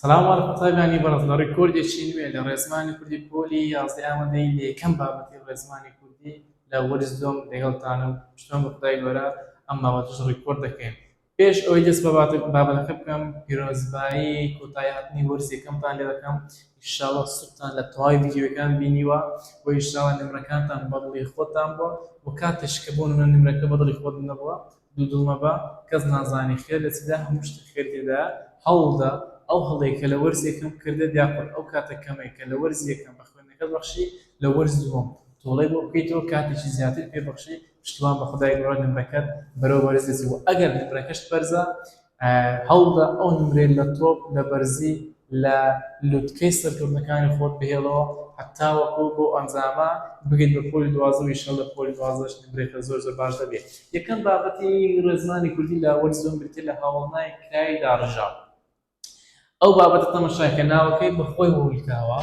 سەلام وەڵ قوتابیانی بەڕێز لە ڕیکۆردێکی نوێ لە ڕێزمانی کوردی پۆلی یازدە ئامادەی لە یەکەم بابەتی ڕێزمانی کوردی لە وەرز دووەم لەگەڵتانم پشتوان بە خودای گەورە ئەم بابەتەش ڕیکۆرد دەکەین پێش ئەوەی دەست بە بابەتەکە بکەم پیرۆزبایی کۆتایی هاتنی وەرز یەکەمتان لێ دەکەم ئیشاڵڵا سوودتان لە تەواوی ڤیدیۆکان بینیوە و ئیشاڵڵا نمرەکانتان بەدڵی خۆتان بووە و کاتێش کە بۆ نمرە نمرەکە بەدڵی خۆت نەبووە دوو دڵ مەبە کەس نازانی خێر لە چدا هەموو شتێک خێر تێدایە هەوڵدە ئەو هەڵەی کە لە وەرزی یەکەم کردت یاخود ئەو کاتە کەمەی کە لە وەرزی یەکەم بە خوێندنەکەت بەخشی لە وەرز دووەم تۆڵەی بۆ بکەیتەوە کاتێکی زیاتر پێ بەخشی پشتوان بە خودای گۆڕە نمرەکەت بەرەو بەرز دەچێت وە ئەگەر نمرەکەشت بەرزە هەوڵدە ئەو نمرەی لە تۆپ لە بەرزی لە لوتکەی سەرکەوتنەکانی خۆت بهێڵەوە هەتاوەکو بەو ئەنجامە بگەیت بە پۆلی دوازدە و ئیشەڵ لە پۆلی دوازدەش نمرەکە زۆر زۆر باش دەبێ یەکەم بابەتی ڕێزمانی کوردی لە وەرز زۆن بریتە لە هاوڵنای کرای داڕژاو ئەو بابەتە تەمەشاکە ناوەکەی بەخۆی هەولکاوە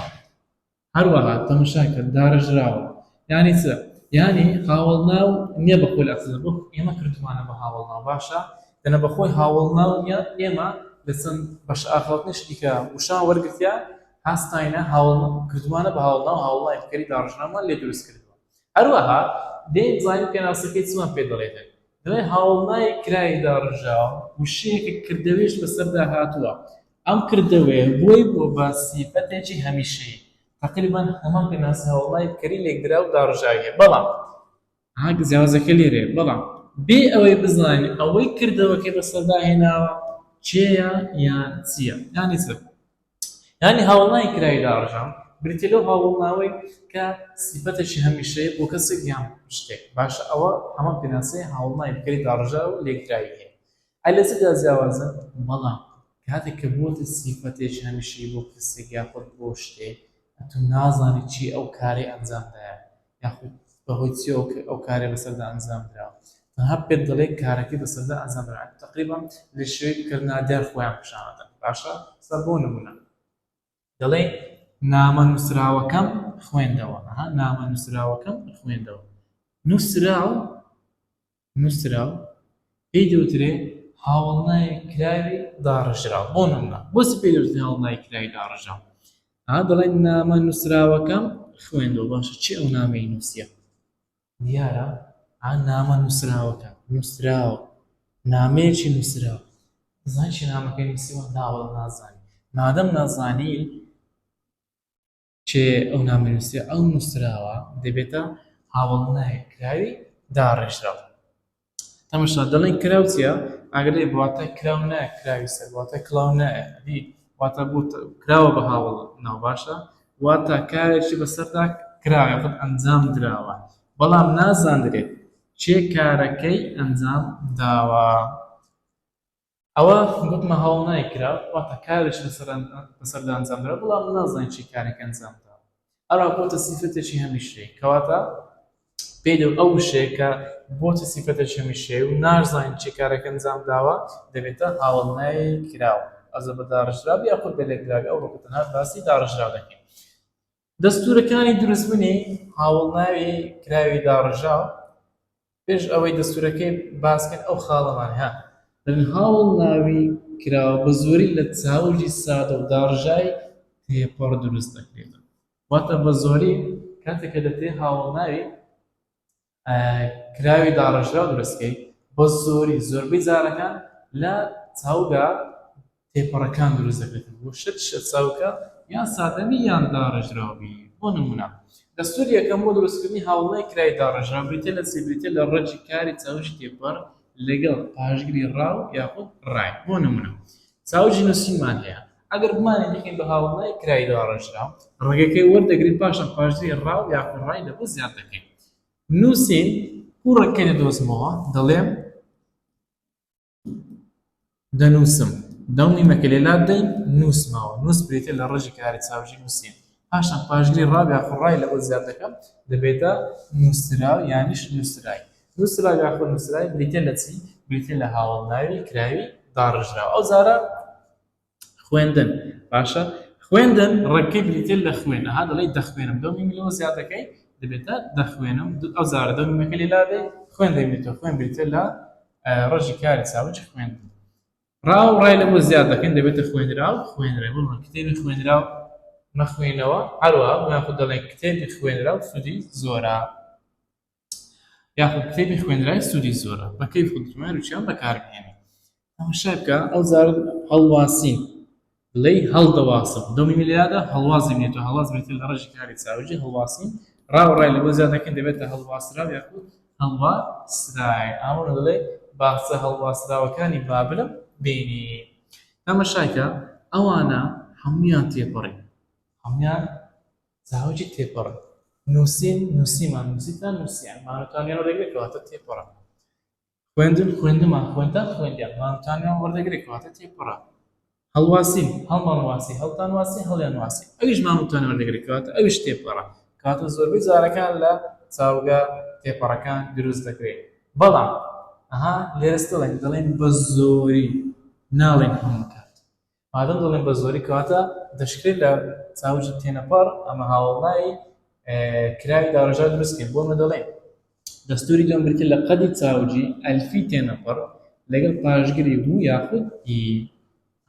هەروەها تەمەشاکە دارەژراوە یانی چ یانی هاوەڵناو نیە بە خۆی ئەسڵ بۆ ئێمە کردومانە بە هاوەڵناو باشە دەنە بەخۆی هاوەڵناو نیە ئێمە لە چەند بەش ئاخاوتنی شتیکە وشان وەرگتیا هاستاینە هاوڵ کردومانە بە هاوڵناو هاوڵای کەری داڕژنامان لێ دروست کرد هەروەها دێن زانین پێناسەکەی چمان پێ دەڵێتن دەڵێ هاوڵنای کرای داڕژاو وشەیەکە کردەوێش بەسەردا هاتووە ئەم کردەوەیە بووە بە سیفەتێکی هەمیشەیی، تەقریبەن هەمان پێناسە هەوڵای کەری لێکدراو و داڕژاوی هەیە، بەڵام ئەها جیاوازیەکە لێرەیە، بەڵام بێ ئەوەی بزانین ئەوەی کردەوەکەی بەسەردا هێناوە کێیە یان چییە، یانی چ؟ یانی هەوڵای کراوی داڕژاو بریتیە لەو هەوڵناوەی کە سیفەتێکی هەمیشەیی بۆ کەسێک یان شتێک، باشە ئەوە هەمان پێناسەی هەوڵناوی کەری داڕژاو و لێکدراوی هەیە، ئەی لە چ جا جیاوازە؟ بەڵام کاتێک کە بووەتە سیفەتێکی هەمیشەیی بۆ کەسێک یاخود بۆ شتێک، ئەتوو نازانیت چی ئەو کارەی ئەنجام دایە یاخود بە هۆی چییەوە کە ئەو کارەی بەسەردا ئەنجام دراوە، تەنها پێت دەڵێ کارەکەی بەسەردا ئەنجام درا، تەقریبەن لە شێوەیەک کە نادیار خۆیان پیشان ئەدەن، باشە؟ بۆ نموونە. دەڵێ، نامە نووسراوەکەم خوێندەوە. ئەها، نامە نووسراوەکەم خوێندەوە. نووسراو، نووسراو، پێی دەوترێ هاوەڵناوی کراوی داڕژراو. بۆ نموونە، بۆچی پێی دەوترێ هاوەڵناوی کراوی داڕژراو؟ ئەها، دەڵێ، نامە نووسراوەکەم خوێندەوە. باشە، چی ئەو نامەی نووسییە؟ دیارە عن نامە نووسراوەکە نووسراوە نامەیەکی نووسراوە زان چی نامەکەی نووسیوە ناوە نازانی مادەم نازانی چێ ئەو نامە نووسێ ئەو نووسراوە دەبێتە هاوڵنایە کراوی داڕێژراوە تەمەشا دەڵێن کراو چیە ئاگرێ بواتە کراو نایە کراوی سەر بواتە کلاو نایە دی واتە بوو کراوە بە هاوڵ ناو باشە واتە کارێکی بەسەردا کراوە یاخود ئەنجام دراوە بەڵام نازاندرێت چێ کارەکەی ئەنجام داوە ئەوە گوتمە هەوڵ نایکرا واتە کارێک لەسەردا ئەنجامدرا بەڵام من نازانین چی کارێک ئەنجامدرا ئەوا بۆتە سیفەتێکی هەمیشەیی کەواتە پێی دەوت ئەو وشەیە کە بۆتە سیفەتێکی هەمیشەیی و نازانین چی کارێک ئەنجامداوە دەبێتە هەوڵ نایکراو ئەوجا بە داڕێژراو یاخود بە لێکدراوی ئەوڕۆکە تەنها باسی داڕێژراو دەکەین دەستوورەکانی دروستبوونی هاوەڵناوی کراوی داڕێژاو، پێش ئەوەی دەستوورەکەی باس بکەین ئەو خاڵەمان هەیە. هاوەڵناوی کراو بە زۆری لە چاوگی سادە و داڕژاوی تێپەڕ دروست دەکرێتەوە، واتە بە زۆری کاتێک کە دەکرێت هاوەڵناوی کراوی داڕێژراو دروست کەیت بە زۆری زۆربەی جارەکان لە چاوگا تێپەڕەکان دروست دەبێت بۆ شت شە چاوکە یان سادەبی یان داڕێژراوبی بۆ نمونە دەستور یەکەم بۆ دروستکردنی هاوڵی کرای داڕێژراو بریتە لە سیبریتە لە ڕەجی کاری چاوش تێپەڕ لەگەڵ پاشگری ڕاو یاخود ڕای بۆ نمونە ساوجی نوسینمان هەیە ئەگەر بمانەوێت بیکەین بە هاوەڵای کرای داڕێژراو ڕەگەکەی وەردەگرین پاشان پاشدری ڕاو یاخود ڕای لەبۆ زیاد دەکەین نوسین بۆ ڕەگەکەی دەدۆزمەوە دەڵێم دەنوسم دەو میمەکە لێ لادەین نوسمەوە نوس بریتیە لە ڕەگی کراری ساوجی نوسین پاشان پاشگری ڕاو یاخود ڕای لەوە زیاد دەکەم دەبێتە نووسراو یانیش نووسرای. نووسراو یاخود نووسرای بریتییە لە چی؟ بریتییە لە هاوەڵناوی کراوی داڕژراو. ئەو جارە خوێندن باشە خوێندن ڕەگکەی بریتییە لە خوێن. ئەها دەڵێی دەخوێنم دەو میمی لەوە زیاد دەکەی دەبێتە دەخوێنم ئەو جارە دەو میمەکە لێ لادەی خوێن دەبێتەوە خوێن بریتییە لە ڕەژی کاری چاوج خوێندن. ڕا و ڕای لەمە زیاد دەکەین دەبێتە خوێنرا و خوێنرێ بۆمان کتێبی خوێنرا و مەخوێنەوە هەروەها یاخود دەڵێن کتێبی خوێنرا و سوودی زۆرە یاخود کتێبی خوێنرای سوودی زۆرە بەکەی خودمان وچیان بەکاربهێنێت ئەمە شەکە ئەو زار هەڵواسین لێی هەڵدەواسم دڵی من لێیادا هەڵوازی بێت و هەڵواز بێتە لە ڕێژی کاری چاوگی هەڵواسین ڕا و ڕای لەبۆ زیاد دەکەین دەبێتە هەڵواسراو یاخود هەڵواسراین ئەمە ڕا دەڵێ باخچە هەڵواسراوەکانی بابلم بینی تەمەشای کە ئەوانە هەموویان تێپەڕی هەموویان چاوگی تێپەڕن نووسین نووسیمان نووسیتان نووسیان مانوتان یان ڕێگرێکەواتە تێپەڕن خوێندن خوێندمان خوێندتان خوێندیان مانتانیان وەردەگرێ کەواتە تێپەڕە هەڵواسین هەڵمان واسی هەڵتان واسی هەڵیان واسی ئەویش مانتان وەردەگرێت کەواتە ئەویش تێپەڕە کاتە زۆربەی جارەکان لە چاوگە تێپەڕەکان دروست دەکرێت بەڵام ئەها لێرەستەڵێن دەڵێن بە زۆری ناڵێن هەموو کات مادەم دەڵێن بە زۆری کەواتە دەشکرێت لە چاوجی تێنەپەڕ ئەمە هاوڵناوی کراوی داڕژا دروستکرد بۆمە دەڵێن دەستوری لەم بریتە لە قەدی چاوجی ئەلفی تێنەپەڕ لەگەڵ پاشگری بوو یاخود ئی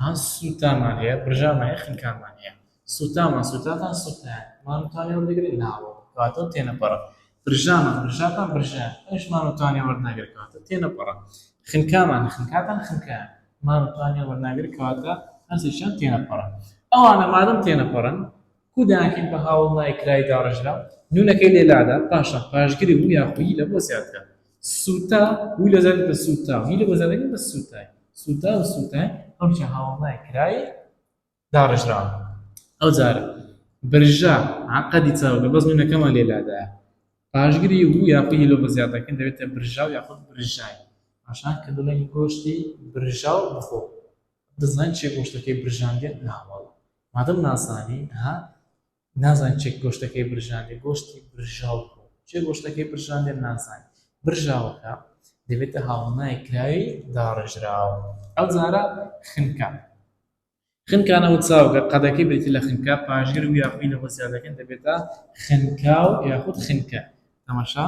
هەست سووتامان هەیە برژامان هەیە خنکانمان هەیە سوتامان، سوتاتان، سوتایان، مان و تانێ وەردەگرێت، ناوە، کەواتە تێنەپەڕە. برژامان، برژاتان، برژایان، ئەویش مان و تانێ وەرناگرێت، کەواتە تێنەپەڕە. خنکامان، خنکاتان، خنکایان، مان و تانێ وەرناگرێت، کەواتە هەرسێکیان تێنەپەڕن. ئەوانە مادەم تێنەپەڕن، کو دەیانکەین بە هاوڵ نای کراوی داڕێژراو، نوونەکەی لێ لادا، پاشان پاشگری وو یاخو ی لەبۆ زیاد بکە. سوتا، وو لە زیاد بکە، سوتاو، ی لەبۆ زیاد ئەکەین بە سوتای. سوتاو و سوتای، هەرسێکیان هاوڵ نای کراوی. داڕێژراوە ئەوجار برژا عەقەدی چاوگە بەس نوونەکەمان لێ لادایە پاشگری و یا قی لۆ بە زیادەکەن دەبێتە برژاو یاخود برژای پاشان کە دەڵێن گۆشتی برژاو بخۆ دەزانین چێ گۆشتەکەی برژاندێت ناوەڵ مادەم نازانی ها نازان چێک گۆشتەکەی برژاندێ گۆشتی برژاو بخۆ چێ گۆشتەکەی برژاندێت نازانی برژاوەکە دەبێتە هاوڵنای کراوی داڕێژراوە ئەو جارە خنکە خنکا نەوت ساوکە، قەدەکەی بریتی لە خنکا، پاشگر و یا خوی لەوە زیادەکەن دەبێتە خنکاو یاخود خنکە، تەماشا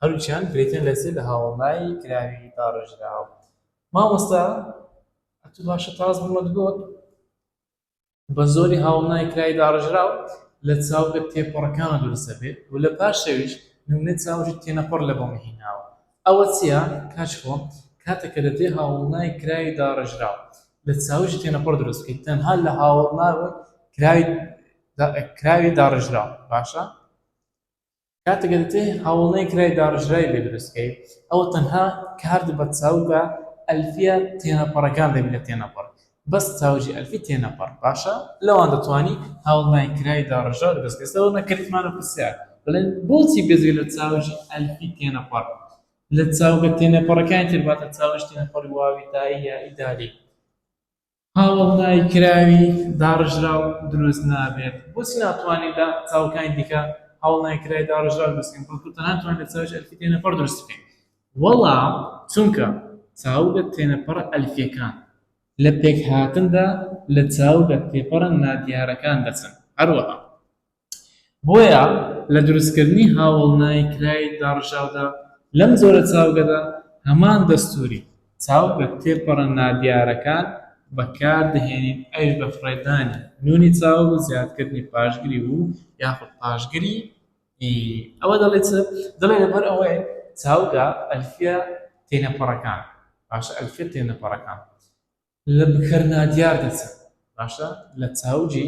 هەروکیان بریتین لە زێ لە هاوەڵناوی کراوی داڕێژراو. مامۆستا ئەتوو باشە تاس بمت گۆت بە زۆری هاوەڵناوی کراوی داڕێژراو لە چاوگە تێپەڕەکانە دروست دەبێت و لە پاشەویش نمونەی چاوژی تێنەپەڕ لە بۆمە هیناوە. ئەوە چیە کاچ خۆ کاتێک کە دەتێ هاوەڵناوی کراوی داڕێژراو لە چاویشی تێنەپەڕ دروست بکەیت تەنها لە هاوەڵناوی کراوی کراوی داڕێژراو باشە کاتێک کە دەتێ هاوەڵناوی کراوی داڕێژراوی لێ دروست بکەیت ئەوە تەنها کارت بە چاو بە ئەلفیە تێنەپەڕەکان دەبی لە تێنەپەڕ بەس تاوجی ئەلفی تێنەپەڕ باشە لەوان دەتوانی هەوڵنای کرای داڕێژراو لە بەزگەستەوە نەکردمانە پرسیار بڵێن بۆچی بێجگە لە تاوجی ئەلفی تێنەپەڕ لە چاوگە تێنەپەڕەکانی تر واتە چاوژ تێنەپەڕی واوی تایی یائی دالی هەوڵنای کراوی داڕێژراو دروست نابێت بۆچی ناتوانین لە چاوەکانی دیکە هەوڵنای کرای داڕێژراو دروست بکەین بەڵکو تەنها دەتوانین لە چاوجی ئەلفی تێنەپەڕ دروست بکەین وەڵا چونکە چاوگە تێنەپەڕە ئەلفیەکان لە پێکهاتندا لە چاوگە تێپەڕە نادیارەکان دەچن هەروەها بۆیە لە دروستکردنی هاوەڵنایی کراوی داڕژاودا لەم جۆرە چاوگەدا هەمان دەستوری چاوگە تێپەڕە نادیارەکان بەکاردەهێنین ئەویش بە فڕێدانی نونی چاوگ و زیادکردنی پاشگری و یاخود پاشگری ی ئەوە دەڵێ چ؟ دەڵێ لەبەر ئەوەی چاوگە ئەلفیە تێنەپەڕەکان، باشە ئەلفیە تێنەپەڕەکان لە بکەر نادیار دەچن، باشە لە چاوگی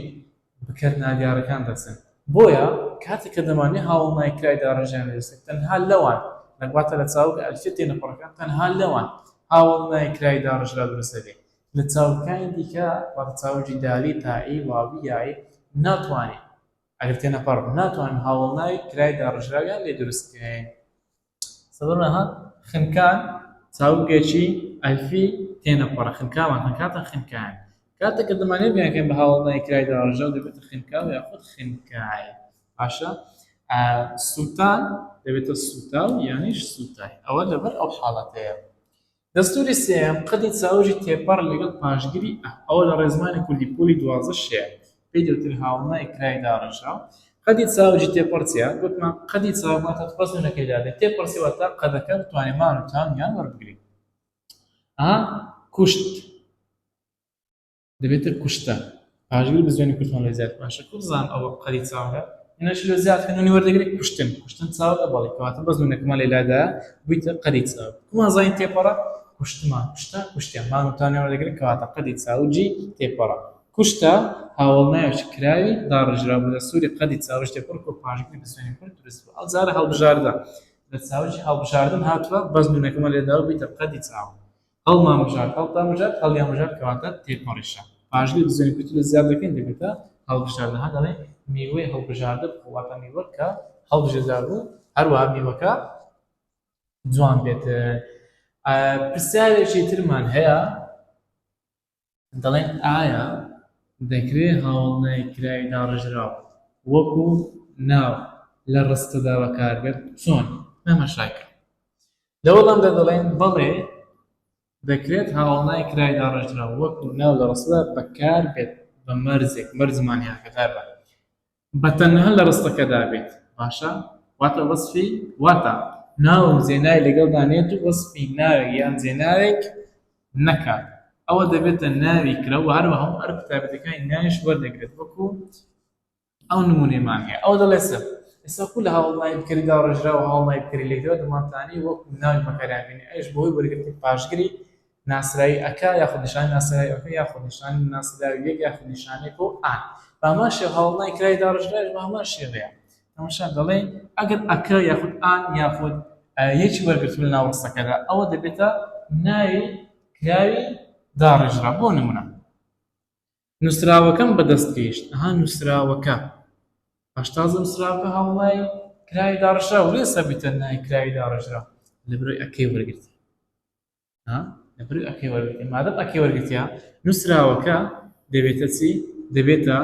بکەر نادیارەکان دەچن، بۆیە کاتێک کە دەمانێ هاوەڵنای کرای داڕێژەیان لە دەستێک تەنها لەوان لە واتە لە چاوگە ئەلفیە تێنەپەڕەکان تەنها لەوان هاوەڵنای کرای داڕێژرا دروست دەبێ، لە چاوگەکانی دیکە واتە چاوگی دالی، تائی، واوی، یائی ناتوانێ ئەگەر تێنەپەڕ ناتوانن هاوەڵناوی کرای داڕێژراویان لێ دروست بکەین. سەدەمە ها خنکان چاوگێکی ئەلفی تێنەپەڕە، خنکاوان خنکاتە خنکایان. کاتێک کە دەمانێ بیان کەین بە هاوەڵناوی کرای داڕێژراو دەبێتە خنکاو یاخود خنکای. باشە سووتان دەبێتە سووتاو یانیش سووتای. ئەوە لەبەر ئەو حاڵەتەیە. دەستووری سێیەم قەدی چاوگی تێپەڕ لەگەڵ پاشگری ئە، ئەوە لە ڕێزمانی کوردی پۆلی دوازدە شێ، پێی دەوترێت هاوڵنای کرای داڕێژە. قەدی چاوگی تێپەڕ چییە؟ گوتمان قەدی چاوگ واتە تۆ ئەزموونەکەی دادەیت، تێپەڕ چییە؟ واتە قەدەکە بتوانێت مان و تام یان وەربگرێت. ئا، کوشت. دەبێتە کوشتە پاژگەری بە زوێنی کوردمان لێ زیاد باشە کوزان ئەو قەری چاوەکە هێنەش لە زیاد هێنونی وەردەگرێت کوشتن کوشتن چاو ئەبڵی کەواتە بە زوێنەکەمان لێلادا بوویتە قەری چاو کومان زانین تێپەڕە کوشتمان کوشتە کوشتیان مانوتانێ وەردەگرێت کەواتە قەدی چاوجی تێپەڕە کوشتە هاوڵناوێکی کراوی داڕژرا بوو لە سووری قەدی چاوش تێپڕ و پاژگری بە زوێنی کورد درست بوو ئەو جارە هەڵبژاردە لە چاوجی هەڵبژاردن هاتووە بەزمونەکەمان لێداوە بیتە قەدی چاو هەڵمامژار، هەڵتامژار، هەڵیامژار کەواتە تێپەڕیشە. پاژگەی بزوێنی کوردی لە زیاد دەکەین دەبێتە هەڵبژار. دەها دەڵێین میوەی هەڵبژاردە بخۆ، واتە میوە کە هەڵبژێردرا بوو، هەروەها میوەکە جوان بێت. پرسیارێکی ترمان هەیە. دەڵێن ئایا دەکرێت هاوەڵنای کراوی داڕێژراو وەکو ناو لە ڕستەدا بەکاربێت؟ چۆن تەماشاکەین. لە وەڵامدا دەڵێن بەڵێ دەکرێت هاوەڵنای کراوی داڕێژراو وەکو ناو لە ڕستەدا بەکاربێت بە مەرجێک، مەرج مانیاکەدار بە بە تەنها لە ڕستەکەدا بێت باشە واتە وەسفی واتە ناو و زێنای لەگەڵدا نێت و وەسفی ناوێک یان زێناوێک نەکات ئەوە دەبێتە ناوی کرە و هەروەها هەموو ئەرک و تایبەتەکانی ناویش وەردەگرێت وەکو ئەو نمونەیمان هەیە ئەو دەڵێ سەر ئێستا کو لە هاوڵنای بکەری داڕێژرا و هاوڵنای بکەری لێکدەوە دەمانتانی وەکو ناوی بەکاریان بینی ئەوش بەهۆی وەرگرتنی پاشگری ناسراوی ەکە یاخود نیشانەی ناسراوی ەکە یاخود نیشانەی ناسراوی یەک یاخود نیشانەی کۆ ئان بە هەمان شێوە هەوڵنای کرای داڕشتنەکەش بە هەمان شێوەیە تەماشا دەڵێن ئەگەر ەکە یاخود ئان یاخود یەکی وەرگرتوو لە ناو ڕستەکەدا ئەوە دەبێتە ناوی کراوی داڕێژرا بۆ نمونە نووسراوەکەم بەدەست گەیشت ئەها نووسراوەکە هەشتازە نووسراوەکە هەوڵای کراوی داڕشرا و لێ سەبیتە نای کراوی داڕێژرا لە برۆی ئەکەی وەرگرت ها لەبری ئەکەی وەرگتیە مادەم ئەکەی وەرگتیە نووسراوەکە دەبێتە چی دەبێتە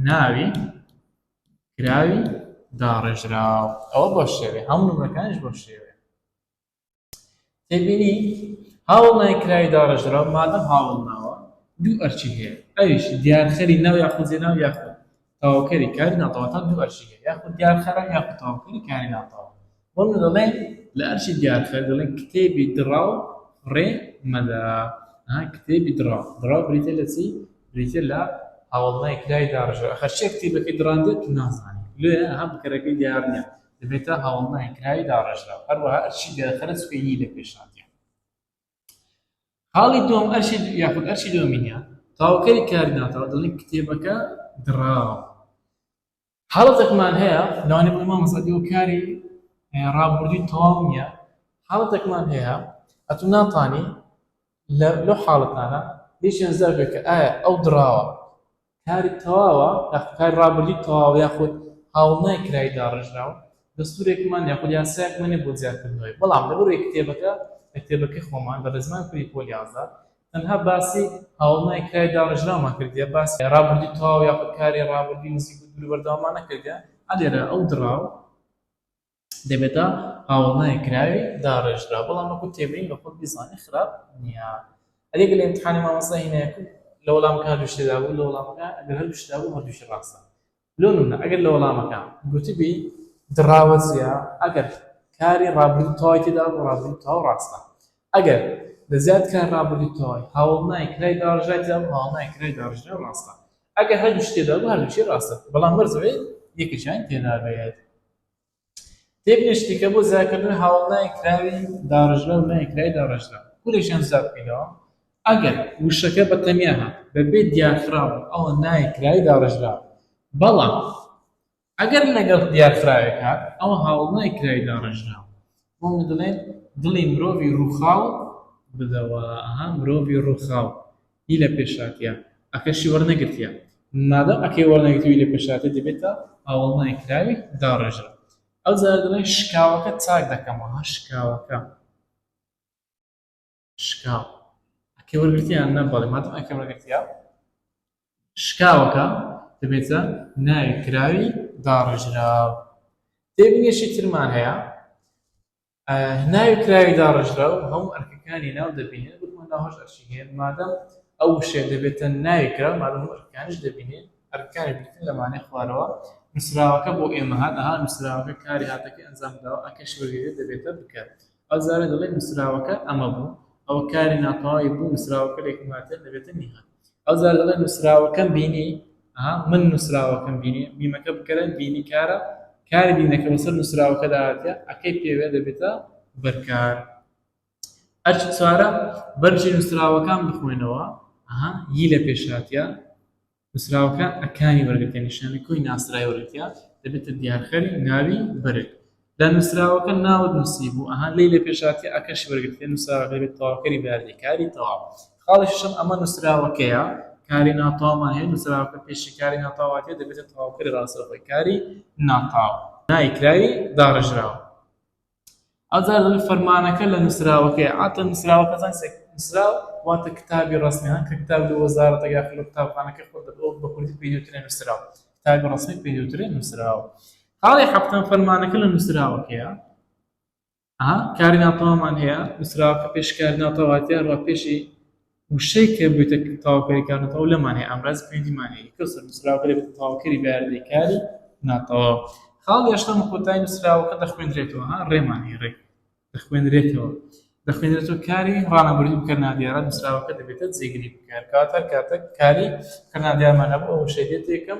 ناوی کراوی داڕێژراو ئەوە بۆ شێوێ هەموو نمرەکانش بۆ شێوێ تێبینی هاوڵ نای کراوی داڕێژراو مادەم هاوڵ ناوە دوو ئەرچی هەیە ئەویش دیارخەری ناو یاخود جێ ناو یاخود تەواوکەری کاری ناتەواوەکان دوو ئەرکی هەیە یاخود دیارخەرە یاخود تەواوکەری کاری ناتەواو بەڵێ دەڵێن لە ئەرکی دیارخەر دەڵێن کتێبی دڕاو فڕێ مەدە کتێبی دڕاو دڕاو بریتە لە چی بریتە لە هەوڵنای کرای داڕژە ئەخەر چێ کتێبەکەی دڕاندێت نازانانی لێ هەم بکەرەکەی دیار نیە دەبێتە هەوڵنای کرای داڕژە هەروەها ئەرکی دیارخەرە سوێنی لە پێشاندیان خاڵی دووەم ئەرشی یاخود ئەرشی دۆمینیا تاوەکەی کاری ناتەوە دەڵین کتێبەکە دڕاوە حاڵەتێکمان هەیە لەوانێ بڵێ مامۆستا ئێوە کاری ڕابوردوی تەواو نییە حاڵەتێکمان هەیە ئەتو ناتانی لە لەو حاڵەتانە بێچیان زەربێکە ئایا ئەو دڕاوە کارت تەواوە یاخود کاری ڕابردووت تەواوە یاخود هاوڵنای کرای داڕێژراو، دەستورێکمان یاخود یاسایەکمان نیە بۆ زیادکردنەوەی، بەڵام لەبەرەوەی کتێبەکە لە کتێبەکەی خۆمان لە ڕێزمانی کوردی پۆل یازدە تەنها باسی هاوڵنای کرای داڕێژراومان کردیە باسی ڕابردووی تەواو یاخود کاری ڕابردووی نزیک و دوور و بەردەوامان نەکردیە، ئەلێرە ئەو دڕاو. دەبێتە هاوەڵناوی کراوی داڕێژراو بەڵام وەکو تێبینی لە خۆت بیزانی خراپ نیە ئەدی گەر لە ئیمتحانی مامۆستا هینایەکو لە وەڵامەکە هەردوو شتێ دابوو لە وەڵامەکە ئەگەر هەردوو شت دابوو هەردووشی ڕاستە لۆ نمونە ئەگەر لە وەڵامەکە گوتبی دڕاوە چیە ئەگەر کاری ڕابردوو تەواوی تێدا بوو ڕابردوو تەواو ڕاستە ئەگەر لە زیاد کار ڕابردوو تەواوی هاوەڵنای کرای داڕێژرای تێدا بوو هاوەڵنای کرای داڕێژراو ڕاستە ئەگەر هەردوو شت تێدا بوو هەردووشی ڕاستە بەڵام وەرزەوەی یەکێکیان تێدا بێت تێک نشتیکە بۆ زیادکردن هاوڵ ناوی کراوی داڕێژرا و ناوی کراوی داڕێژرا کورێکیان زیاد بکەینەوە ئەگەر وشەکە بە تەنیا هات بەبێ دیارخراوە ئەوە ناوی کراوی داڕێژرا بەڵام ئەگەر لەگەڵ دیارخراوێک هات ئەوە هاوڵ ناوی کراوی داڕێژرا بۆمن دەڵێن دڵی مرۆڤی ڕووخاو بدەوە ئەها مرۆڤی ڕووخاو هی لە پێشاتیە ئەکەشی وەرنەگرتیە مادەم ئەکەی وەرنەگرتوی لە پێشاتێ دەبێتە ئاوەڵنای کراوی داڕێژرا ئەوجا دەڵێن شکاوەکە چاک دەکەمەوە ها شکاوەکە شکاو ئەکەی وەرگرتیان نە بەڵێ مادەم ئەکەی وەرگرتیا شکاوەکە دەبێتە ناوی کراوی داڕژراو تێبینیشی ترمان هەیە ناوی کراوی داڕژراو هەموو ئەرکەکانی ناو دەبینێت بکمە ناهۆش ئەرشی هەیە مادەم ئەو شێ دەبێتە ناوی کراو مادەم ئەرکانش دەبینێت ئەرکانی بکن لەمانێ خوارەوە نووسراوەکە بۆ ئێمە هاتەها نووسراوەکە کاری هاتەکە ئەنجام داوە ئەکەش وەرگێت دەبێتە بکات ئەو جارە دەڵێی نووسراوەکە ئەمە بوو، ئەوە کاری ناتەواوی بوو، نووسراوەکە لە ئیکواتێر دەبێتە میهان. ئەو جارە دەڵێی نووسراوەکەم بینی، ئەها، من نووسراوەکەم بینی، میمەکە بکەرە بینی کارە، کاری بینەکە بەسەر نووسراوەکەدا هاتیە، ەکەی پێوێ دەبێتە بەرکار. ئەرکی چوارەم، بەرگی نووسراوەکان بخوێنەوە، ئەها، ی لە پێش هاتیە. نووسراوەکە ئەکانی وەرگرتە نیشانەی کۆی ناسراوی وەرگرتە دەبێتە دیارخەری ناوی بەرگ لە نووسراوەکە ناوت نووسیبوو ئەها لەی لە پێشهاتە ئەکەشی وەرگرتە نووسراوەکە دەبێت تەواوکەری بەیاردەی کاری تەواو خاڵی شەشەم ئەمە نووسراوەکەیە کاری ناتەواومان هەیە نووسراوەکە پێشی کاری ناتەواواتێ دەبێتە تەواوکەری ڕاستەوخۆی کاری ناتەواو نایکراوی داڕێژراوە ئەجا فەرمانەکە لە نووسراوەکەیە عادەتەن نووسراوەکە زانستێک نووسراو واتە کتابی ڕەسمی هەن کە کتاب لە وەزارەتێک یاخود لە قوتابخانەکەی خۆت دەبەوە بە کوردی پێی دەوترێ نووسراو کتابی ڕەسمی پێی دەوترێ نووسراو خاڵی حەفتەم فەرمانەکە لە نووسراوەکەیە کاری ناتەوامان هەیە نووسراوەکە پێشکاری ناتەواتیان ڕا پێشی وشەی کە بێتە تەواوکەری کار ناتەواو لەمان هەیە، ئامرازی پەیوەندیمان هەیە، کەسر، نووسراوەکە دەبێتە تەواوکەری بەیاردەی کاری ناتەواو. خاڵی هەشتەم، کۆتایی نووسراوەکە دەخوێندرێتەوە، ها، ڕێمان هەیە، ڕێ، دەخوێنرێتەوە، دەخوێنرێتەوە کاری ڕانەبەرو بکەر نادیارە، نووسراوەکە دەبێتە جێگری بکەر، کەواتە هەر کاتێک کاری بکەر نادیارمان هەبوو، ئەو وشەی دێتە یەکەم.